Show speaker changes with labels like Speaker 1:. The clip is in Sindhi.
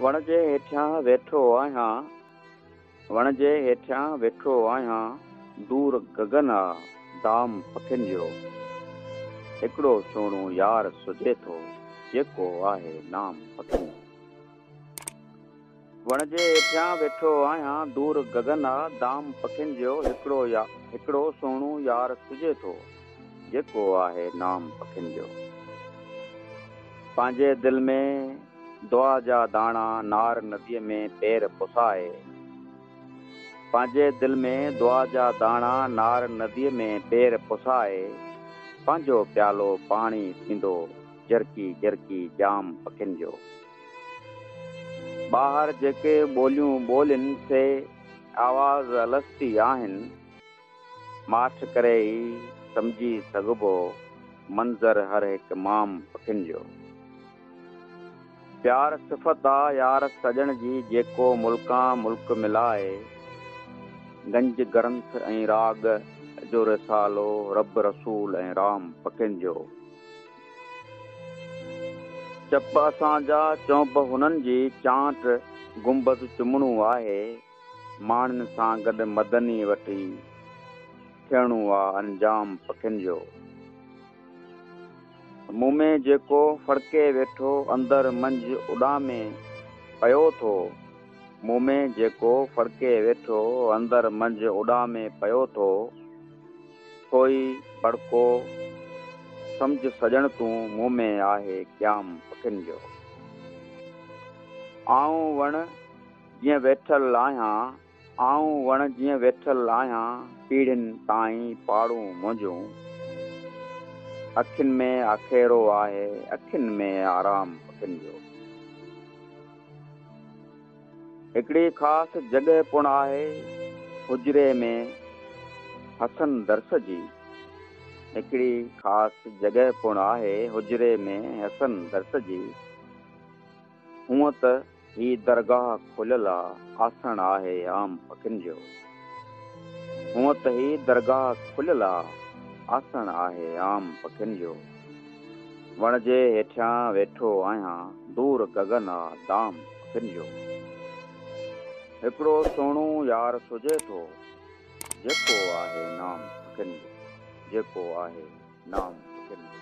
Speaker 1: وڻ جي هيٺيان ويٺو آهيان. وڻ جي هيٺيان ويٺو آهيان. دور گگن آ دام پکين جو. هڪڙو سهڻو يار سجهي ٿو. جيڪو آهي نام پکين جو. وڻ جي هيٺيان ويٺو آهيان دور گگن آ دام پکين جو هڪڙو يا هڪڙو سهڻو يار سجهي ٿو جيڪو آهي نام پکين جو پنهنجي دل ۾ دعا جا داڻا نار ندي ۾ پير پسائي پنهنجي دل ۾ دعا جا داڻا نار ندي ۾ پير پسائي پنهنجو پيالو پاڻي ٿيندو جرڪي جرڪي جام پکين جو. ٻاهر جيڪي ٻوليون ٻولين سي آواز الستي آهن. ماٺ ڪري ئي سمجهي سگهبو منظر هر هڪ مام پکين جو. پيار صفت آ يار سڄڻ جي جيڪو ملڪان ملڪ ملائي. گنج گرنٿ ۽ راڳ جو رسالو رب رسول ۽ رام پکين جو. چپ اسان جا چونپ هنن جي چانٽ گنبذ چمڻو آهي ماڻهن سان گڏ مدني وٺي ٿيڻو آ انجام پکين جو مون ۾ جيڪو ڦڙڪي ويٺو اندر منجھ اڏامي پيو ٿو مون ۾ جيڪو ڦڙڪي ويٺو اندر منجھ اڏامي پيو ٿو. سوئي ڀڙڪو سمجهه سڄڻ تون مون ۾ آهي قيام پکين جو آئون وڻ جيئن ويٺل آهيان آئون وڻ جيئن ويٺل آهيان پيڙهين تائين پاڙون منهنجون اکين ۾ آکيرو آهي اکين ۾ آرام پکين جو. هڪڙي خاص جڳهه پڻ آهي حجري ۾ حسن درس جي. هڪڙي خاص جڳهه پڻ آهي حجري ۾ حسن درس جي. هونء ته هي درگاهه کليل آسڻ آهي عام پکين جو. هونء ته هي درگاهه کليل آسڻ آهي عام پکين جو. وڻ جي هيٺيان ويٺو آهيان. دور گگن آ دام اکين جو. هڪڙو سهڻو يار سجهي ٿو. جيڪو آهي نام اکين جو. جيڪو آهي نام اکين جو.